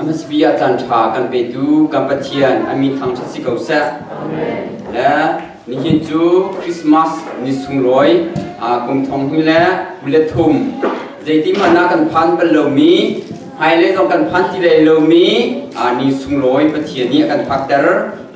MSB ah caanṭha kan petu kan Pathian a mi thang si ko seh. Nihin cu Christmas ni sunglawi kum thong hnu le kul le thum zeiti hmanah kan phan bal lomi hmailei zong kan phan ti lai lomi ni sunglawi Pathian nih a kan phakter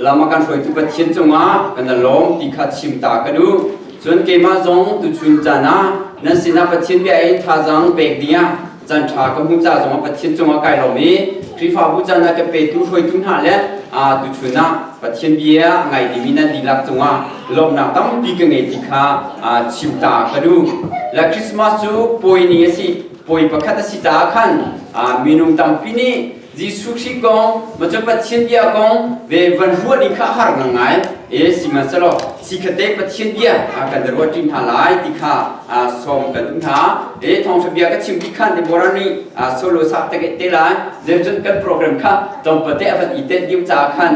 lama kan hruaitu Pathian cungah kan lawm ti kha chim ta ka duh Cun keimah zong tuchun caan ah nan sinah Pathian bia i thazaang pek dingah caan ṭha ka hmuh ca zongah Pathian cungah kai lawm i Khrihfabu caan ah ka petu hruaitu hna le tuchun ah Pathian bia a ngai dimi nan dihlak cungah lawmhnak tampi ka ngei ti kha chim ta ka duh. La Christmas cu pawi ni a si, pawi pakhat a si caah khan minung tampi nih Jesuh Khrih kong, Macam Pathian bia kong ve van ruah ni kha a har ngang ngai. E sihmanhsehlaw si khate Pathian bia kan da ruat ṭin hna lai ti kha sawm kan um hna. E thawngṭha bia ka chim pi khan Deborah nih solo sak te te lai. Zeicun kan program kha tlawmpate a van i tet diu caah khan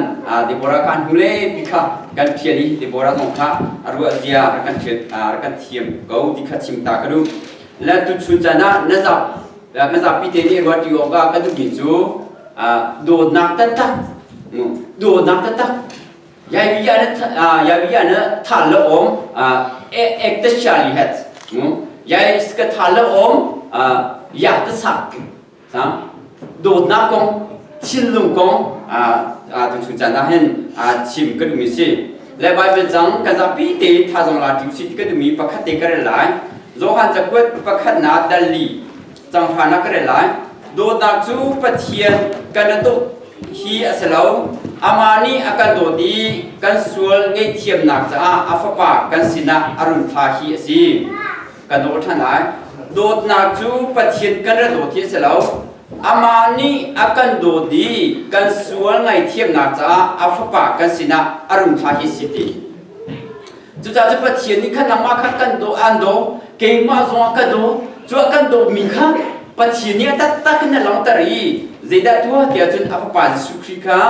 Deborah kha an hung le pi kha kan ṭhial i Deborah zong kha a ruahzia rak kan ṭhial rak kan thiam ko ti kha chim ta ka duh. La tu chun can ah na zak Kan zapi te nih ruat awk ah kan duhmi cu dawtnak taktak dawtnak taktak yaivi ana yaivi ana tha la om ek ta shali hat yai ska tha la om ya ta sak sa dawtnak kong thinlung kong tu chu chan ah hin chim ka duhmi si le Baibal cang ka zapi te thazang la ṭi usih ti ka duhmi pakhat te ka rel lai. Johan cakuat pakhatnak dal li canghranak ka rel lai. Dawtnak cu Pathian kan a dawt hi a si lo. Amah nih a kan dawt i kan sual ngaihthiamnak caah a Fapa kan sinah a run thla hi a si. kan aw ṭhan lai dawtnak cu Pathian kan ra dawt hi a si lo amah nih a kan dawt i kan sual ngaithiamnak caah a fapa kan sinah a rung thlah hi si ti cucaah cu Pathian nih khan nangmah kha kan daw an daw keimah zongah ka daw cuah kan dawmi kha Pathian nih a taktak in a langhter i zeidah tuah tiah cun a fapa Jesuh Khrih kha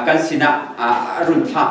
kan sinah a run thlah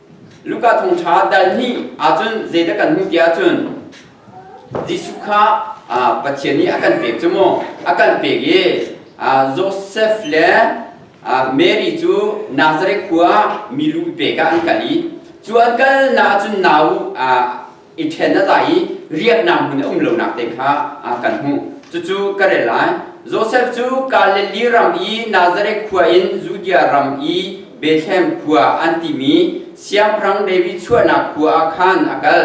Luka thawngṭha dal hnih ahcun zeidah kan hmuh tiah cun Jesuh kha Pathian nih a kan pek cu maw a kan pek i Josef le Mary cu Nazareth khua mi lu pek ah an kal i cu an kalnak ahcun nau i ṭhen a za i riahnak hmun a um lonak te kha kan hmuh. Cucu ka rel lai. Josef cu Galili ram i Nazareth khua in Judea ram i Bethlehem khua an timi siangpahrang David chuahnak khua ah khan a kal.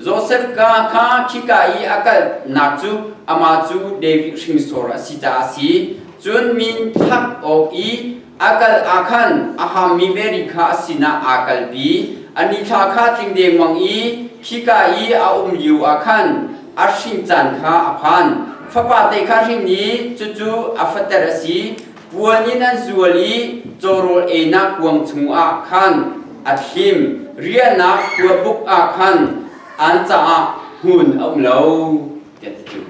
Josef ka kha khika i a kalnak cu amah cu David hringsor a si caah a si. Cun min thak awk i A kal ah khan a hammi veri kha a sinah aa kalpi. A nithla kha tling dengmang i khika i a um lio ah khan a hring caan kha a phan. Fapate kha hrin i cucu a fater a si. Puan in an zual i cawrawl einak kuang chungah khan a thlim. Riahnak kuabuk ah khan an caah hmun a um lo, tiah ti cu.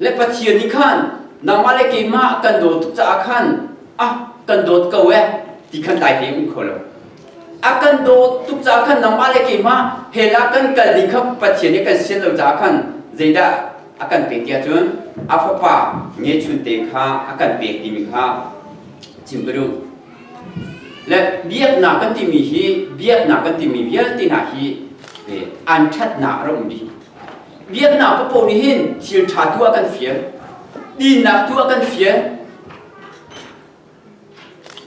Le Pathian nih khan nangmah le keimah kan daw tuk caah khan a kan dawt ko ee ti khan dai tein um kho lo. A kan daw tuk caah khan nangmah le keimah hell ah kan kal ding kha Pathian nih kan sian lo caah khan zeidah a kan pek ti ahcun a fapa ngechun te kha a kan pek timi kha chim ka duh. Le biaknak kan timi hi biaknak kan timi vialte hna hi an ṭhatnak a rum bik Biaknak papo nih hin thil ṭha tu ah kan fial. Dinnak tu ah kan fial.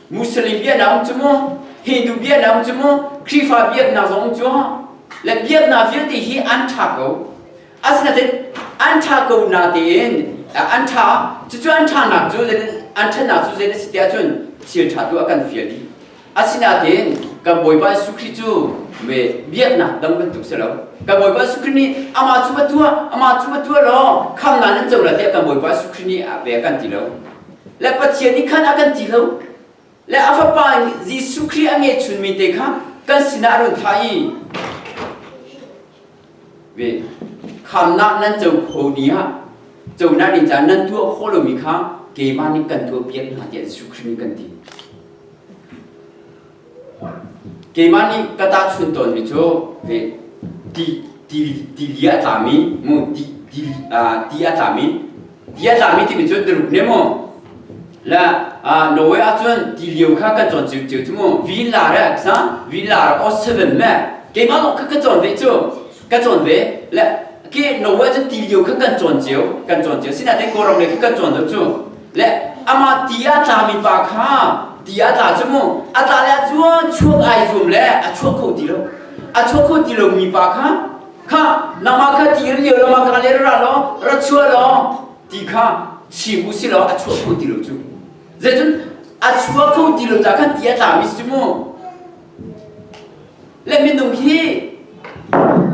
Muslim biaknak um cu mu, Hindu biaknak um cu mu, Khrihfa biaknak zong um cu, le biaknak vialte hi an ṭha ko. Asinain an ṭha ko na tein an ṭha cucu an ṭhanak cu zein an ṭhanak cu zein a si tiah cun thil ṭha tu ah kan fial dih. Asinain kan Bawipa Jesuh Khrih cu me biaknak dang bantuk si lo. Kan Bawipa Jesuh Khrih nih amah cu a tuah, amah cu a tuah law khamnak nan co lai tiah kan Bawipa Jesuh Khrih nih a bia kan ti lo. Le Pathian nih khan a kan ti lo. Le a Fapa Jesuh Khrih a ngeihchunmi te kha kan sinah a run thlah i ve khamnak nan co kho ni ah conak ni caan nan tuah khawh lomi kha keimah nih kan tuah piak hna tiah Jesuh Khrih nih kan ti keimah nih ka tahchun tawnmi cu ve ti ti ti li a tlami mu ti ti li- ah, ti a tlami ti a tlami timi cun na rup ne mu la Norway ah cun ti lio kha kan cawn cio cio cu mu vin la re sa vin la ra o seven me keimah ka ka cawn ve cu ka cawn ve le ke Norway cu ti lio kha kan cawn cio kan cawn cio sina te koram le kan cawn lo cu le ama ti a tlami pa kha ti a tla cu mu a tla le a chuak ai zuam le a chuak kho ti lo a chuak kho ti lo mi pa kha kha lama kha ti ri lama ka le ra lo ra chua lo ti kha chim u si lo a chua kho ti lo cu zeicun a chua kho ti lo ta khan ti a tla mi si mu le minung hi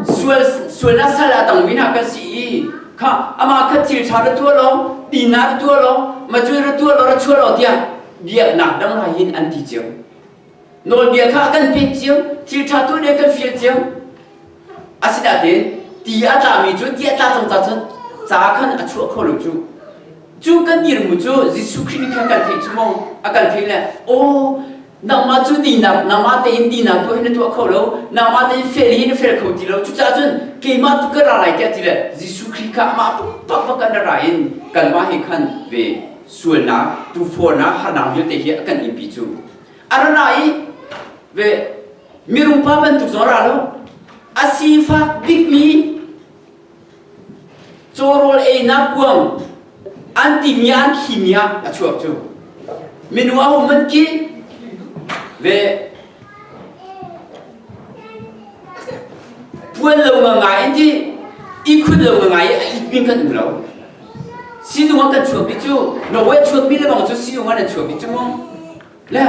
sual sualnak sal a tang wina kan si i kha ama kha thil tha ra tua lo tina ra tua lo ma cui ra tua lo ra chua lo tia biaknak dang ra hin an ti chiang Nawlbia kha a kan pek cio, thilṭhatu nih a kan fial cio. Asinain ti a tlami cu ti a tla cang cacun ca khan a chuah kho lo cu. Cu kan dirmu cu Jesuh Khrih nih khan kan theih cu maw? A kan theih le, aw, nangmah cu tinak, nangmah tein tinak tu hi na tuah kho lo, nangmah tein fel hi na fel kho ti lo. Cucaah cun keimah tu ka ra lai tiah ti le Jesuh Khrih kha amah pakpak kan ra in kanmah he khan ve sualnak, tuufornak, harnak vialte hi a kan inpi cu. a ra ra i ve mirung pa bantuk zaw ra lo a sifak bikmi cawrawl einak kuang an timia an khimia a chuak cu minu a hum an ki ve puan lo nga ngai in ti ihkhun lo nga ngai a it mi kan um lo sinung kan chuak mi cu Norway chuak mi le bang cu sinung an chuak mi cu le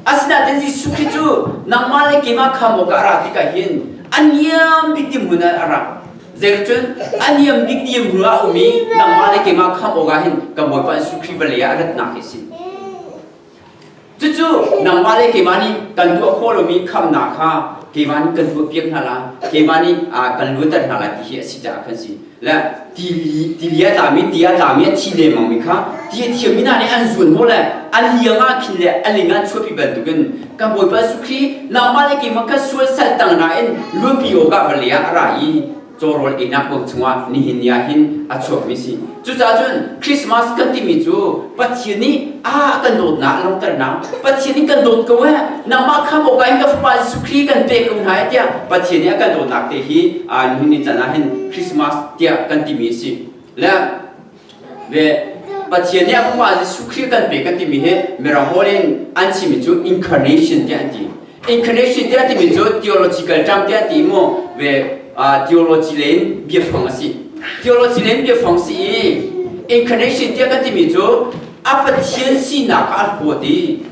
asinain Jesuh khi cu nangmah le keimah kham awk ah ra ti ka hin aniam bik ti mun a ra zeicun aniam bik ti mu a um i nangmah le keimah kham awk ah hin ka bawipa Jesuh Khrih vale ah ratnak hi si Cucu nangmah le keimah nih kan tuah khawh lomi khamnak kha keimah nih kan tuahpiak hna lai, keimah nih kan luatter hna lai ti hi a si caah kan si. Le tili a tlami, ti a tlami, a thi lengmangmi kha ti a thiammi hna nih an zuan maw le a liang ah khin le a ling ah chuahpi bantukin kan Bawipa Jesuh Khrih nangmah le keimah kan sual sal tang nain luanpi awkah vale ah a ra i cawrawl einak kong chungah nihin ni ah hin a chuakmi si. Cucaah cun Christmas kan timi cu Pathian nih a kan dawtnak a langhternak Pathian in kan dawt ko eh nangmah kha Bawipa in ka fapa Jesuh Khrih kan pek ko hna tiah Pathian nih a kan dawtnak te hi nihin ni can ah hin Christmas tiah kan timi a si. Le ve Pathian nih amah Jesuh Khrih kan pe kan timi hi mirang hawl in an chimi cu incarnation tiah an ti incarnation tiah timi cu theological term tiah ti mu ve theology le in biafang a si theology le in biafang si i incarnation tiah kan timi cu a pathian sinak ah a huat i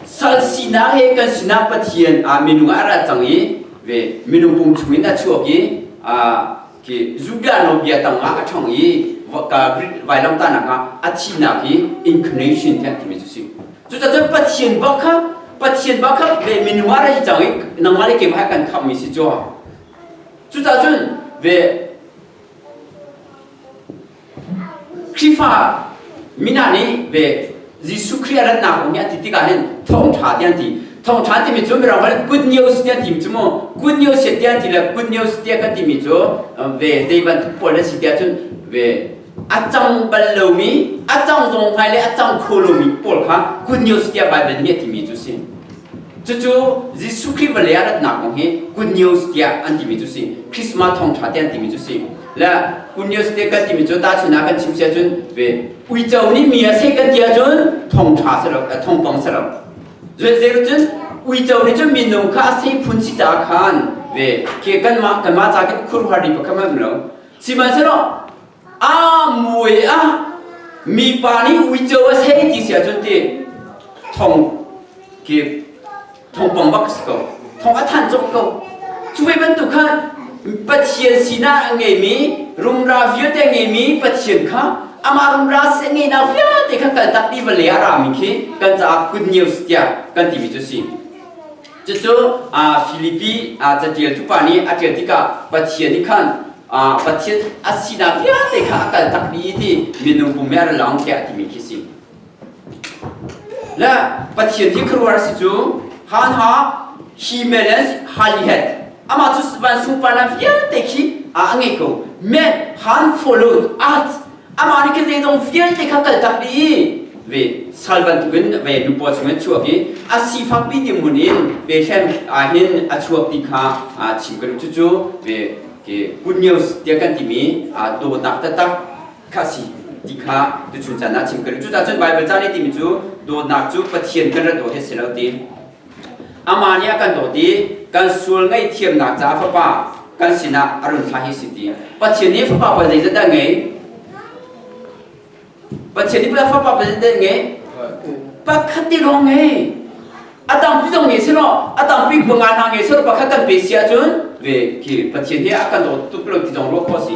sal sinak he kan sinak pathian minung ah a rat cang i ve minung pum chungin a chuak i Khi Zubiano bia tangah a ṭhang i vailamtanak ah a thihnak hi incarnation tiah timi cu si. Cucacun Pathian bak kha Pathian bak kha ve minuma ra cang i nangmah le keimah kan khammi si cu. Cucacun ve Khrihfa mina nih ve Jesuh Khrih a ratnak kong hi a ti tikah hin thawngṭha tiah an ti. Thawngṭha timi cu mirang holh good news tiah ti cu mu good news tiah ti le good news tiah kan timi cu ve zei bantuk pawl na si tiah cun ve a cang bal lomi a cang zong hngai le a cang kho lomi pawl kha good news tiah Baibal nih a timi cu si. Cucu Jesuh Khrih vale ah ratnak kong hi good news tiah an timi cu si. Christmas thawngtha te an timi cu si. Le good news te kan timi cu tahchunh ah kan chim sia cun ve uico nih mi a seh kan ti ahcun thongtha selo thongpang selo. Zeizeu cun uico nih cun minung kha a seh phun si caah khan ve ke kanmah kanmah ca ke khur har ri pakhat hmanh lo. Sihmanhsehlaw Aa muai a mipa nih uico a sei ti si ahcun ti thong ki thong pang bak si ko thong a than cawk ko cu ve bantuk khan Pathian sinar a ngeimi rumra vialte a ngeimi Pathian kha amah rumra si a ngeina vialte kha kaltak ti vale a rami khi kan caah good news tiah kan timi cu si. Cucu Filipi catialtupa nih a ṭial tikah Pathian nih khan Pathian a sinak vialte kha a kaltak i ti minung pum nih a ra lawng tiah a timi khi a si. Le Pathian hi khuaruahhar a si cu han ha he melens halihet amah cu van sungparnak vialte khi a ngei ko men han follow us amah nih khin zeizong vialte kha kaltak dih ve sal bantuk in ve nu paw chung in chuak i a sifak pi ti mun in ve hlen ah hin a chuak ti kha chim ka cu cu ve ke good news tia kan ti mi do tak ta tak kha si ti kha tu chun chan na chim ka cu ta cun Bible chan ti mi cu do nak cu pathian kan ra do he se lo ti Amah nih a kan dawt i kan sual ngaihthiamnak caah Fapa kan sinah a run thlah hi si ti. Pathian nih Fapa pa zeizat dah ngei? Pathian nih Fapa pa zeizat dah ngei? Pakhat ti lawng ngei. A dang tu zong ngei si law, a dang pi panga hna ngei si law, pakhat kan pe si ahcun, ve khi Pathian hi a kan dawt tuk lo ti zong ruah khawh si.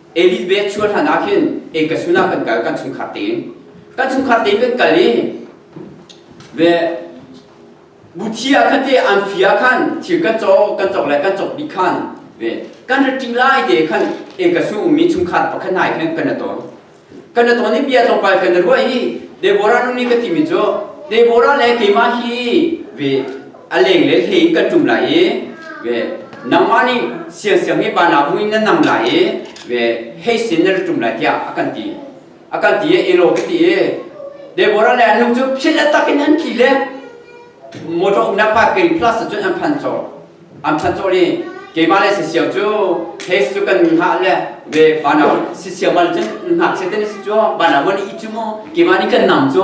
Elizabeth chuah hlan ah khin ei ka sunah kan kal kan chungkhar tein kan chungkhar tein kan kal i ve buthi ah khan te an fia khan thil kan cawk kan cawk le kan cawk bik khan ve kan raṭing lai te khan ei ka su ummi chungkhar pakhat hna khan kan aton kan aton i bia tlawmpal kan ruah i Deborah nu nih ka timi cu Deborah le keimah hi ve a leng le hlei in kan ṭum lai i ve nangmah nih siangsiang hi vanah hung in na nam lai i ve hei sin na ṭum lai tiah a kan ti a kan ti i elo ka ti i Deborah le an lung cu philh a tak in an thi le motor umnak pipe ke in plus cun an phan cawlh an phan cawlh i keimah le sisiau cu hei cu kan hah le ve vanah sisiau mal cun hngakchia ten si cu vanah mon i cu mu keimah nih kan nam cu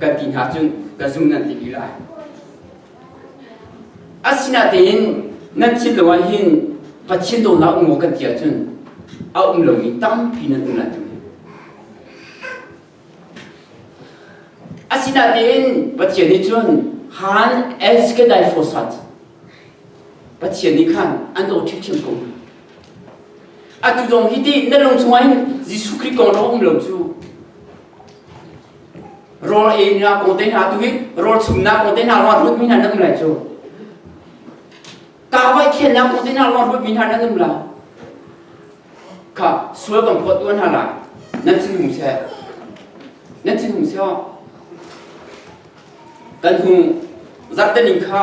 Kan ti hna cun ka zung nan ti lila. Asinatein nan thin lo ah hin Pathian daw hlah u kan ti ahcun a um lomi tampi nan um lai tung Asinatein Pathian nih cun han es kedai fosat Pathian nih khan an daw ṭhitṭhim ko Atu zong hi ti na lung chungah hin Jesuh Khrih kong rawng um lo cu rol e na ko te na tu hi rol chung na ko te na ro rut mi na nam lai cu ka vai khen na ko te na ro rut mi na nam la ka sual kan phot tuan ha la nan chin hum se nan chin hum se kan hum zat te ning kha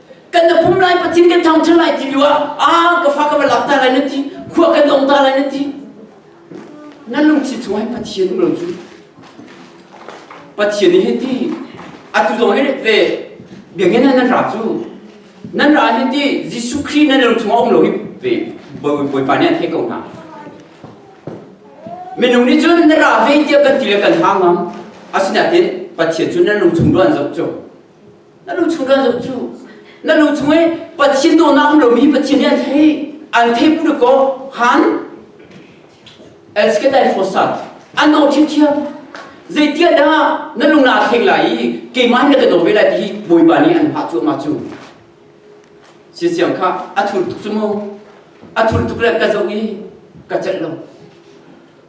kan na pum lai patin kan thang cu lai ti lu ah a ka fa ka va lak ta lai na ti khua kan ong ta lai na ti nan lungsi chung hai pathian um lo cu pathian hi ti atu dong ai ve biangin nan ra cu nan ra hi ti Jesuh Christ nan lung chung om lo hi ve boi boi pa ne the ko na minung ni cun na ra ve ti kan ti le kan hang am asina te pathian cu nan lung chung duan zok cho Na lu chung kan zoh cu. Na lu chung i Pathian dawhnak um lomi Pathian nih an thei. An thei put kaw han let's get that for start. An dawh ṭhiamṭhiam. Zeitiah dah na lung na thleng lai i keimah in ka daw ve lai ti hi Bawipa nih an hngah cuahmah cu. Siasiang kha a thul tuk cu mu. A thul tuk le ka zoh i ka celh lo.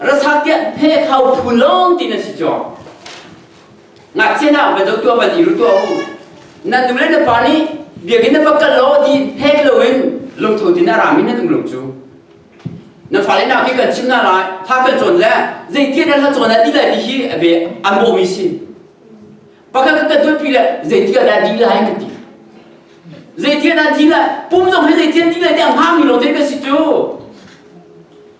Rasatiah phe thau phu long tin an si chuang. Ngakchia na ba dok tua ba di ru tua u. Nan nu le na pa nih biakin na pakal lo di phek lo in lungtho tin a ramin na tung lo cu. Na fale na khi kan chim na lai, tha kan cawn le zei tiat an la cawn a ti lai ti hi a be an bawh mi si. Pakal ka kan tuanpi le zei tiat an di lai ka ti. Zei tiat an di lai, pum zong he zei tiat di lai ti a ngah mi lo te ka si cu.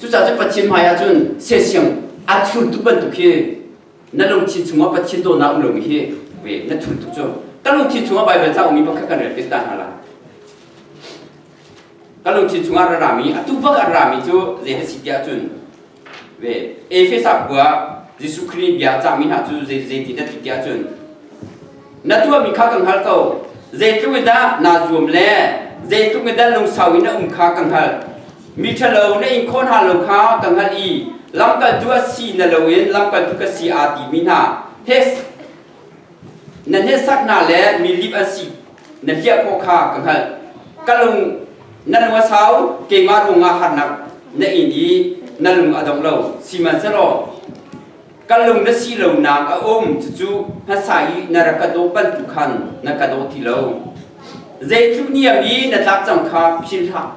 Cucaah cun Pathian hmaiah cun sersiam aa thultu bantuk hi na lungthin chungah Pathian dawtnak um lomi hi na thultuk cu ka lungthin chungah Baibal ca ummi pakhat kan rel piak ta hna la ka lungthin chungah a rami a tu bak a rami cu zei a si tiah cun ve Efesa khua Jesuh Khrih bia cangmi hna cu zeiti na ti tiah cun na tuahmi kha kan hngal ko zeitluk in dah naa zuam le zeitluk in dah lungsau in na um kha kan hngal mi ṭhalo na inkhon hna lo kha kan hngalh i lamkaltu a si na loin lamkaltu ka si aa timi hna hes Na hnesaknak le mi lip an si na hliah khawh kha ka hngalh. Ka lung na lung a sau keimah ruangah harnak na in i na lung a dong lo sihmanhsehlaw ka lung na si lonak a um cucu hmasa i na rak ka daw bantuk khan na ka daw ti lo. Zeitluk niam i na tlak cang kha philhhlah.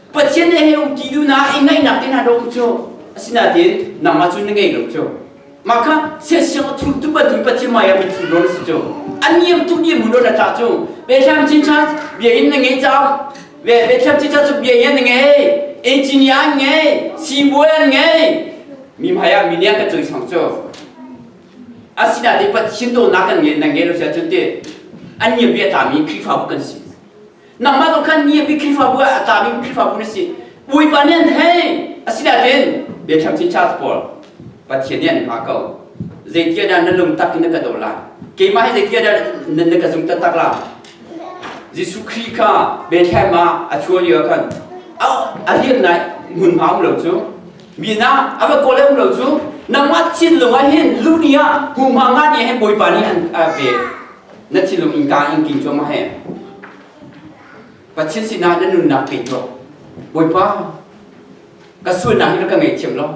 Pathian he he um ti duhnak i ngaihnak in a dawh cu asinain nangmah cu na ngei lo cu mah kha siasiang a thultu patu Pathian maya min thultu na si cu an niam tuk niam ulo na tla cu Bethlehem cincha bia in na ngei cang ve Bethlehem cincha cu bia in na ngei engineer an ngei sibawi an ngei mi maya mi nia ka cui sang cu asinain Pathian to nak kan ngei na ngei lo sia cun ti an niam bia ta mi Khrihfabu kan si nangmah tu khan ni a pi Khrihfabu ah a tami Khrihfabu na si Bawipa nih an hei asinain biathang chin charge pawl Pathian nih an hma ko zeitia dah na lung tak in na ka do la keimah hi zeitia dah na, na ka zung taktak la Jesuh Khrih kha Bethlehem ah a chuah lio khan a lian nai hmun ma um lo cu mi na a va kawl um lo cu nangmah thin lung ah hin lu ni ah hu ma nga ni hin Bawipa nih an pe na thilum in kaa in king cuahmah he Pathian sinah na nunnak pe tuah Bawipa ka sualnak hi na ka ngei thiam lo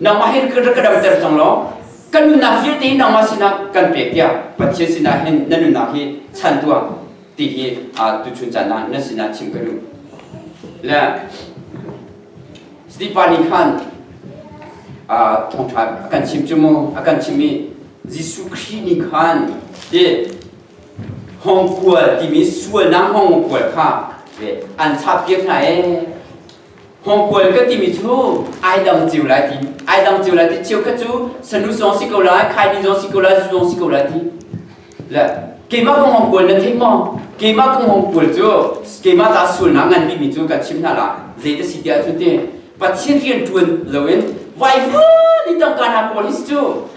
nangmah hi ka ka damter cang lo kan nunnak vialte hi nangmah sinah kan pek tiah Pathian sinah hin na nunnak hi chan tuah ti hi tu chun caan ah na sinah chim ka duh le Stipa nih khan thongtha a kan chim cu mu a kan chim i Jesuh Khrih nih khan hi hongkual timi sualnak hongkual kha an chappiak hna ee. Hongkual ka timi cu ai dang cio lai ti ai dang cio lai ti cheu khat cu sanu zong si ko lai khai ni zong si ko lai zu zong si ko lai ti le keimah kong hongkual na theih maw keimah kong hongkual cu keimah ta sualnak ngan bikmi cu ka chim hna la zei ta si tiah cu ti Pathian rianṭuan loin vaivut i tangka hna police cu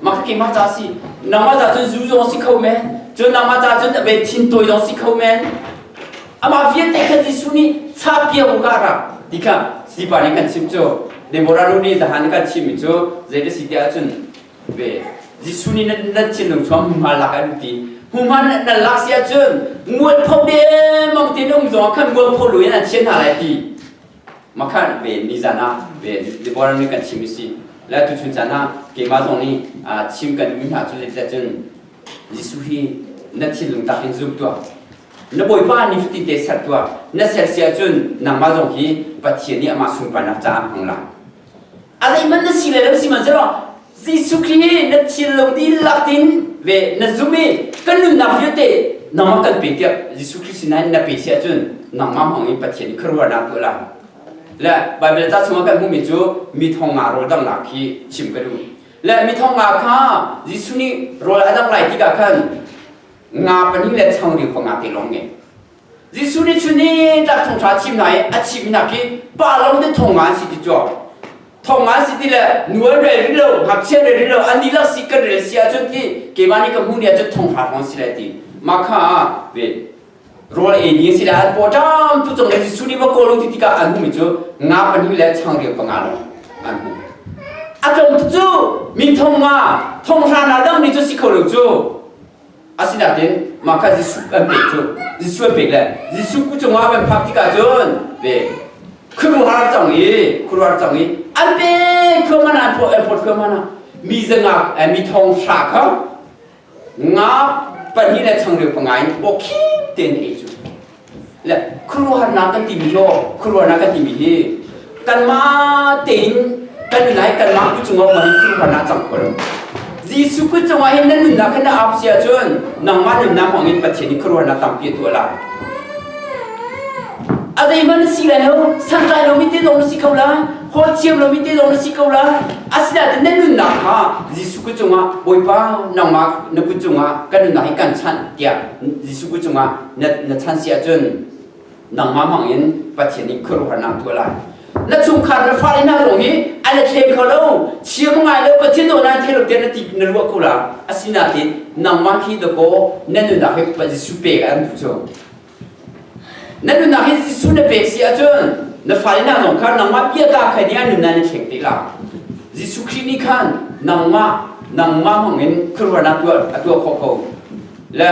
maka keimah ca si nangmah ca cun zu zong si kho men cun nangmah ca cun abei thin tawi zong si kho men amah vialte khan Jesuh nih chapkia u kara ti kha sipa nih kan chim cu Deborah nu nih zahan kan chimmi cu zei da si ti ahcun ve Jesuh nih nan, nan thinlung chuang hmuhma lak an ti hmuhma nan nan lak si ahcun mualpho demang tin um zong khan mualpho lu in an chiah hna lai ti makhan ven ni zan ah ven Deborah nih kan chim isi la tu chun chan ah keimah zong nih chim kan mi hna cu let cun Jesuh hi na thinlung tak in zum tuah na bawipa ni cuti te ser tuah na ser si ahcun nangmah zong hi Pathian nih amah sunparnak caah hmang lang A zeihmanh na si le lo si mahzelaw Jesuh Khrih na thil lo ti lak tin ve na zum i kan nunnak vialte nangmah kan pe tiap Jesuh Khrih sinain na pe si ahcun nangmah hmang in Pathian i kharuahnak tuah lang le Baibal ca chungah kan hmuhmi cu mi thong nga rawl danghnak khi chim ka duh le mi thong nga kha Jesuh nih rawl a dangh lai tikah khan nga pahnih le changreu panga te lawng ngei Jesuh nih chun ni tlak thongṭha thim hna i a thimnak hi palo nih thong nga an si ti cu thong nga si ti le nual rel rih lo ngakchia rel rih lo an dihlak si kan rel si ahcun hi keimah nih ka hmuh ni ahcun thongṭha hrawng si lai ti mah kha ah ve rawl ei ni a si lai an pawṭam tu cung le Jesuh nih va kawl u ti tikah an hmuhmi cu nga pahnih le changreu panga lawng an hmu a tlawm cu mi thong nga thong hra hna dang ni cu si kho lo cu Asinain mah kha Jesuh kan pek cu Jesuh an pek le Jesuh ku cungah kan phak tikah cun ve khuaruhar cang i khuaruar cang i an pe thluahman ah an phawt an phawt thluahman ah mi zangak mi thong hra kha nga pahnih le changreu panga in bawk khip tein a ei cu Le khuaruahharnak kan timi maw khuaruahnak kan timi hi kanmah tein kan i lai kanmah Khrih cungah mah hi khuaruahharnak cang kho lo. Jesuh Khrih cungah hin na nunnak kha na ap si ahcun nangmah nunnak hmangin Pathian i khuaruahnak tampi a tuah lai. A zeihmanh na si lai lo, santlai lomi te zong na si kho la, hawi thiam lomi te zong na si ko la. Asinain na nunnak kha Jesuh Khrih cungah Bawipa nangmah na kut cungah kan nunnak hi kan chanh tiah Jesuh Khrih cungah na chan si ahcun nangmah hmang in Pathian nih khuaruahharnak tuah lai na chungkhar na fale hna zong hi an i thlem kho lo chiam ngai lo Pathian nawl nan thei lo tiah na ti na ruah ko la asinak in nangmah khi dakaw na nunnak hi Jesuh pek an tu cu na nunnak hi Jesuh na pek si ahcun na fale hna zong kha nangmah bia ka kha nih an nunnak na thleng te la Jesuh Khrih nih khan nangmah nangmah hmang in khuaruahnak tuah a tuah khawh ko le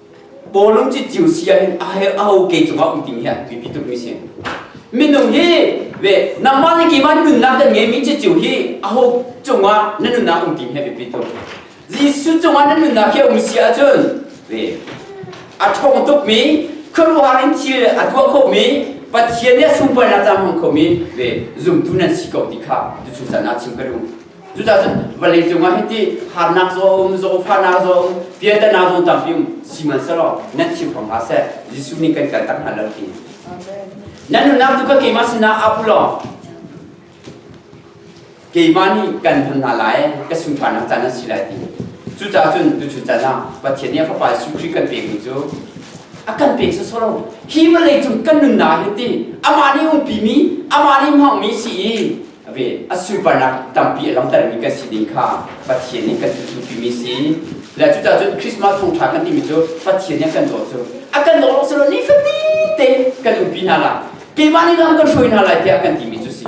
Bawlung ci ciu si ahhin a her a ho ke cungah um timi hi a biapi tukmi si. Minung hi ve nangmah nih keimah nunnak dan ngeimi ci ciu hi a ho cungah na nunnak um timi hi a biapi tuk. Jesuh cungah na nunnak hi a um si ahcun ve a ṭhawng tukmi khuaruahar in thil a tuah khomi Pathian nih a sunparnak cang hmang khomi ve zumtu nan si ko ti kha tu cucan ah chim ka duh. Cucaah vawlei cungah hiti harnak zong zawfanak zong piatana zong tampi um sihmanhsehlaw nan chim hram hlah seh Jesuh nih kan kaltak hna lo ti nan nunnak cu ka keimah sinah ap u law keimah nih kan hman hna lai ka sunparnak caan an si lai ti cucaah cun tuchun caan ah Pathian nih Fapa Jesuh Khrih kan pek mi cu a kan pek sawsawh lo hi vawlei cung kan nunnak hi ti amah nih umpi mi amah nih hmang mi si i A ve a supernak tampi a langhtermi kan si ding kha Pathian nih kan tutupi si. Le cucaah cun Christmas thawngṭha kan timi cu Pathian nih kan dawt cu a kan dawt lo ni fatin te kan lungpi hna lai keimah nih nan kan hruai hna lai tiah kan timi cu si.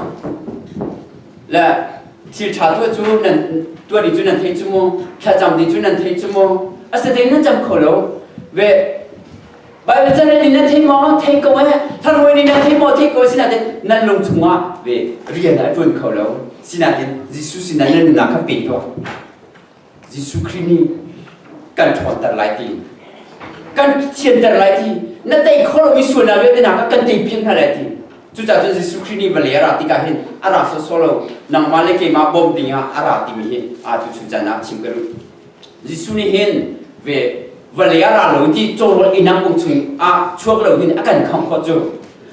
Le thil ṭha tu cu nan tuani cu nan thei cu mu, thlacam ti cu nan thei cu mu, a sate nan cam kho lo. Ve Baibal chan in na thei maw thei ko eh tharhawi nih na thei maw thei ko sinain nan lung chungah ve rian a ṭuan kho lo sinain Jesuh sinah na nunnak kha pe tuah Jesuh Khrih nih kan ṭhawnter lai ti kan thianter lai ti na tei kho lomi sualnak vialte kan tei piak hna lai ti cucaah cun Jesuh Khrih nih vale a ra tikah hin a ra sawsawh lo nangmah le keimah bawmh dingah a ra timi hi atu chuncan ah chim ka duh Jesuh nih hin ve vale a ra lo ti cawrawl inang kung chung ah chuak lo in a kan kham khawt cu.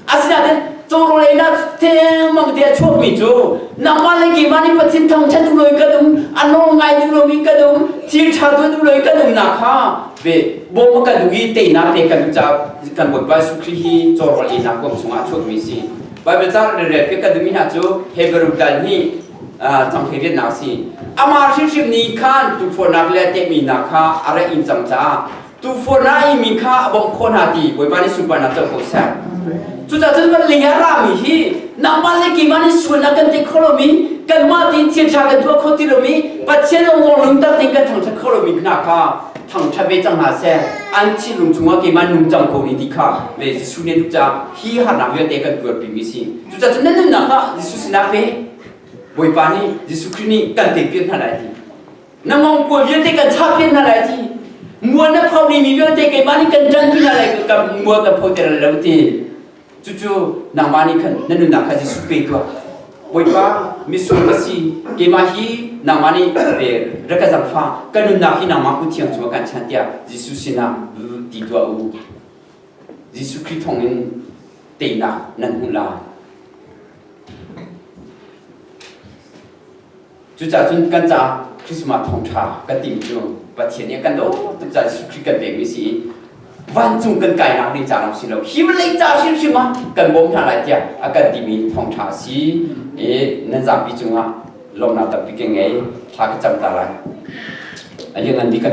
Asinain cawrawl einak thengmang te a chuakmi cu nangmah le keimah nih Pathin thangṭhat duh loin kan um, a nawl ngai duh lomi kan um, thil ṭha tuah duh loin kan umnak kha ve bawm a kan duh i teinak te kan duh caah kan Bawipa Jesuh Khrih hi cawrawl einak kung chung ah chuakmi a si. Baibal caang relrel pe kan duhmi hna cu Hebrew dal nih cangkhe viannak si amah hrimhrim ni khan tuufornak le tehmi hna kha a ra in cang caah tuufornak i mi kha a bawmh khawh hna ti Bawipa nih sunparnak co ko seh cucacun kan ling a rami hi nangmah le keimah nih sual a kan tei kho lomi kanmah ti chiaṭha kan tuah kho ti lomi Pathian a uang lungtak tein kan thangṭhat kho lomi hna kha thangṭhat ve cang hna seh an thinlung chungah keimah nung cang ko ni ti kha le Jesuh nih ca hi harnak vialte kan tuarpimi si Cucacun nan nunnak ah Jesuh sinah ve Bawipa nih Jesuh Khrih nih kan pek piak hna lai ti na ngong kua vialte kan chah piak hna lai ti mual na phau ni mi vialte keimah nih kan ṭan pi hna lai ka mual kan pho ter lo ti cucu nangmah nih khan na nunnak kha Jesuh pe tuah Bawipa misual ka si keimah hi nangmah nih ve ra ka zangfa ka nunnak hi nangmah kuthiang cung ah kan chan tiah Jesuh sinah ti tuah u Jesuh Khrih thawngin teinak nan hmuh lai. Cucaah cun kan caah Christmas thawngṭha kan timi cu Pathian nih a kan daw tuk caah Jesuh Khrih kan pekmi si i vancung kan kainak ding ca lawng si lo hi vawlei ca hrimhrim ah kan bawm hna lai tiah a kan timi thawngṭha a si i nan zapi cungah lawmnak tampi ka ngei thla ka cam ta lai. A lianngan bik kan bia